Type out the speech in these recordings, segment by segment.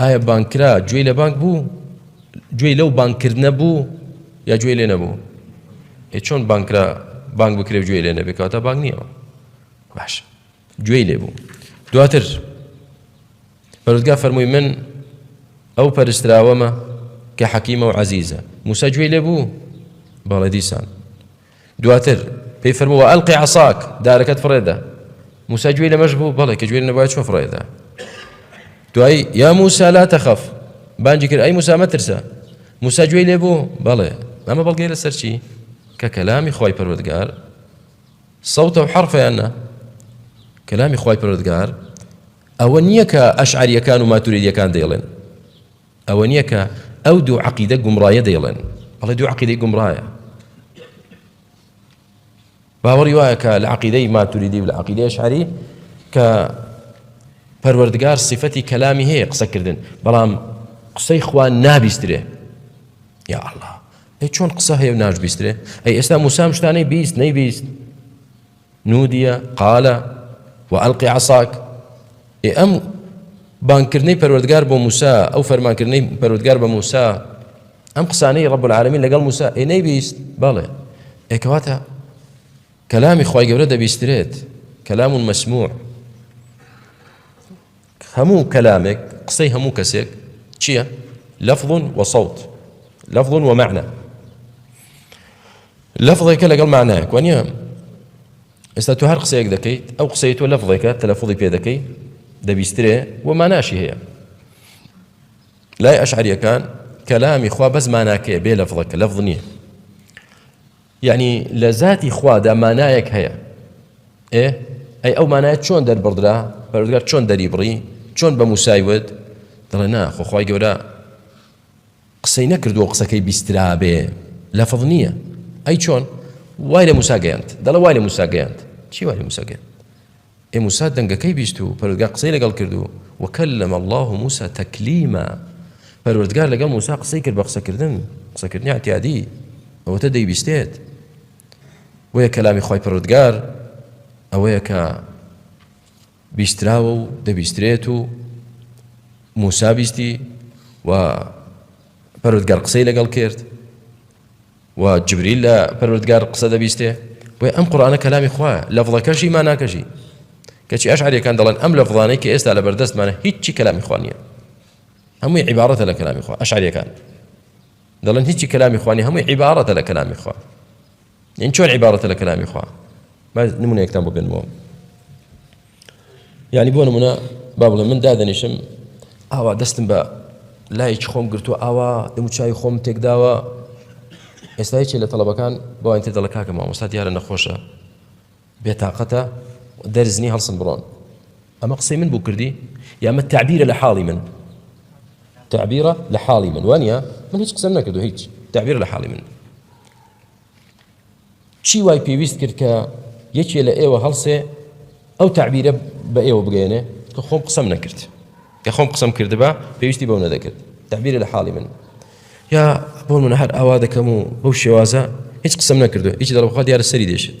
ئایا بانگ کرا گوێی لە بانگ بوو گوێی لەو بانگ کردنە بوو یا گوێی لێ نەبوو ئێ چۆن بانگ کرا بانگ بکرێ گوێی لێ نەبێ کەواتە بانگ نییەوە باش گوێی لێ بوو دواتر پەرودگا فەرمووی من ئەو پەرستراوەمە کە حەکیمە و عزیزە موسا گوێی لێ بوو بەڵێ دیسان دواتر پێی فەرموو وەئەلقی عەساک، دارەکەت فڕێدە. موسا گوێی لەمەش بوو، بەڵێ کە گوێی نەبوایە چۆن فڕێدا. دوایی یا موسا لا تخف، بانگی کرد ئەی موسا مەترسە. موسا گوێی لێ بوو، بەڵێ. ئەمە بەڵگەیە لەسەر چی؟ کە کەلامی خوای پەروەردگار سەوتە و حەرفیان نا. کەلامی خوای پەروەردگار ئەوە نییە کە ئەشعەرییەکان و ماتوریدییەکان دەیڵێن. ئەوە نیە کە ئەو دوو عەقیدە گومڕایە دەیڵێن ئەڵێ دوو عەقیدەی گومڕایە باوەڕی وایە کە لە عەقیدەی ماتوریدی و لە عەقیدەی ئەشعەری کە پەروەردگار صفەتی کەلامی هەیە قسەکردن بەڵام قسەی خوا نابیسترێ یا الله ئەی چۆن قسە هەیە و ناشبیسترێ ئەی ئێستا موسام شتانەی بیست نەیبیست نودی قال وألق عصاک، ئێ ئەم بانگ کردنەی پەروەردگار بۆ موسا، ئەو فەرمان کردنەی پەروەردگار بە موسا، ئەم قسانەی رب العالمین لەگەڵ موسا، ئێ نەیبیست؟ بەڵێ، ئێ کەواتە کەلامی خوای گەورە دەبیسترێت، کلام مسموع. هەموو کەلامێک، قسەی هەموو کەسێک، چییە؟ لفظ و صوت، لفظ و معنی. لفظێکە لەگەڵ معنایەک، وانییە؟ ئێستا تۆ هەر قسەیەک دەکەیت، ئەو قسەی تۆ لفظێکە تەلەفوزی پێ دەکەی، دەبیسترێ و ماناشی هەیە. لای ئەشعەرییەکان کەلامی خوا بەس ماناکەیە بێ لفظەکە، لفظ نییە. یەعنی لە زاتی خوادا مانایەک هەیە ئێ ئەی ئەو مانایە چۆن دەربڕدرا پەرۆزگار چۆن دەری بڕی چۆن بە موسای وت دڵێ نا خۆخوای گەورە قسەی نەکردووە قسەکەی بیسترابێ لە فڵ نییە ئەی چۆن وای لە موسا گەیاند دەڵە وای لە موسا گەیاند چی وای لە موسا گەیاند ئێ موسا دەنگەکەی بیست و پەروەردگار قسەی لەگەڵ کرد و وکلم اللە موسا تکلیما پەروەردگار لەگەڵ موسا قسەی کرد بە قسەکردن قسەکردنی عتیادی ئەوەتە دەیبیستێت بۆیە کەلامی خی پەروەردگار ئەوەیە کە بیستراوە و دەبیسترێت و موسا بیستی و پەرودگەر قسەی لەگەڵ کرد و جبریل لە پەروەردگار قسە دەبیستێ بۆیە ئەم قورئانە کەلامی خوایە لەفڵەکەشی ماناکەشی کەچی ئەشعەریەکان دەڵێن ئەم لەفڵانەی کە ئێستا لە بەردەستمانە هیچی کەلامی خوا نییە هەمووی عیبارەتە لە کەلامی خوا ئەشعەریەکان دەڵێن هیچی کەلامی خوانی هەمووی عیبارەتە لە کەلامی خوا یان چۆن عیبارەتە لە کەلامی خوا نمونەیەکتان بۆ بێنمەوە یانی بۆ نمونە با بڵێ من دادەنیشم ئاوا دەستم بە لایەکی خۆم گرتووە ئاوا دەموچوی خۆم تێکداوە ئێستایکی لە تەڵەبەکان بۆیان تێ دەڵە کاکە مامۆستا دیارە نەخۆشە بێتاقەتە دەرزنی هەڵسن بڕۆن ئەمە قسەی من بۆ کردی یامە تعبیرە لە حاڵی من تعبیرە لە حاڵی من وانە من هیچ قسەم نەکردو هیچ تعبیر لە حاڵی من چی وای پێویست کرد کە یەکێ لە ئێوە هەڵسێ ئەو تەعبیرە بە ئێوە بگەیەنێ کە خۆم قسەم نەکرد کە خۆم قسەم کردبا پێویستی بەو نەدەکرد تەعبیرە لە حاڵی من یا بۆ من هەر ئاوا دەکەم و بەو شێوازە هیچ قسەم نەکردو هیچ دەڵبخوا دیارە سەری دێشێت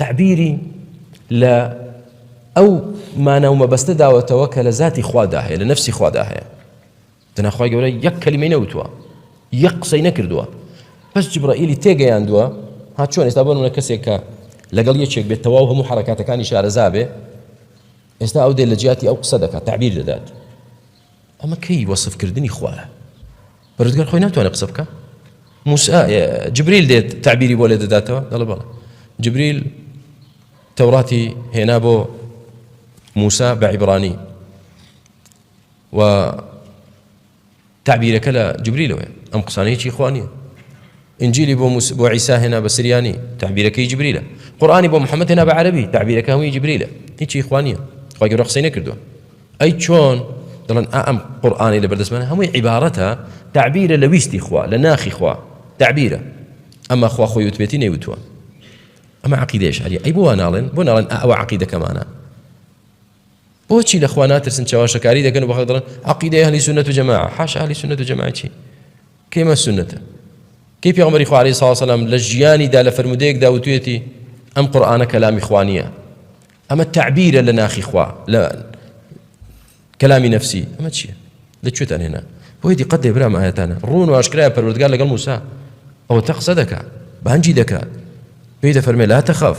تەعبیری لە ئەو مانا و مەبەستە داوەتەوە کە لە زاتی خوادا هەیە لە نەفسی خوادا هەیە دەناخوای گەورە یەک کەلیمەی نەوتووە یەک قسەی نەکردووە بەس جبرائیلی تێگەیاندووە ها چۆن ئێستا بۆ منە کەسێک کە لەگەڵ یەکێک بێت تەواو هەموو حرکاتەکانی شارەزا بێ ئێستا ئەو دێ لە جیاتی ئەو قسە دەکات تعبیر دەدات ئەمە کەی وەصفکردنی خوارە پەرستگار خۆی ناتوانێت قسە بکە موسا جبریل دێت تعبیری بۆ لێ دەداتەوە دەڵێ بەڵێ جبریل تەوڕاتی هێنا بۆ موسا بە عیبرانی و تعبیرەکە لە جبریلەوەی ئەم قسانەیەکی خوانیە ئینجیلی بۆ موس بۆ عیسا هێنا بە سریانی، تەعبیرەکەی جبریلە. قورئانی بۆ محمد هێنا بە عەرەبی، تەعبیرەکە هەمووی جبریلە. هیچی هی خوا نییە. خوای گەورە قسەی نەکردووە. ئەی چۆن دەڵێن ئا ئەم قورئانەی لەبەر دەستمانە هەمووی عیبارەتە، تەعبیرە لە ویستی خوا، لە ناخی خوا. تەعبیرە. ئەمما خوا خۆی وتبێتی نەیوتووە. ئەمە عەقیدەی ئەشعەرییە. ئەی بۆ وا ناڵێن؟ بۆ ناڵێن ئا ئەوە عەقیدەکەمانە؟ بۆچی لە خوا ناترسن چەواشەکاری دەکەن و بەخەڵک دەڵێن عەقیدەی ئەهلی سوننەت و جەماعە حاشا ئەهلی سوننەت و جەماعە چی کەیمە سوننەتە کەی پێغەمبەری خوا عەلەیهی سڵاو سەلام لە ژیانیدا لە فرموودەیەکدا وتوێتی ئەم قورئانە کەلامی خوا نییە ئەمە تعبیرە لە ناخی خوا لە کەلامی نەفسی ئەمە چییە لە کوێتان هێنا بۆی دیقەت لێ برام ئاەتانە ڕوون و ئاشکرای پەروەردگار لەگەڵ موسا ئەوە تە قسە دەکات بانجی دەکات پێی دەفەرمێ لا تەخەف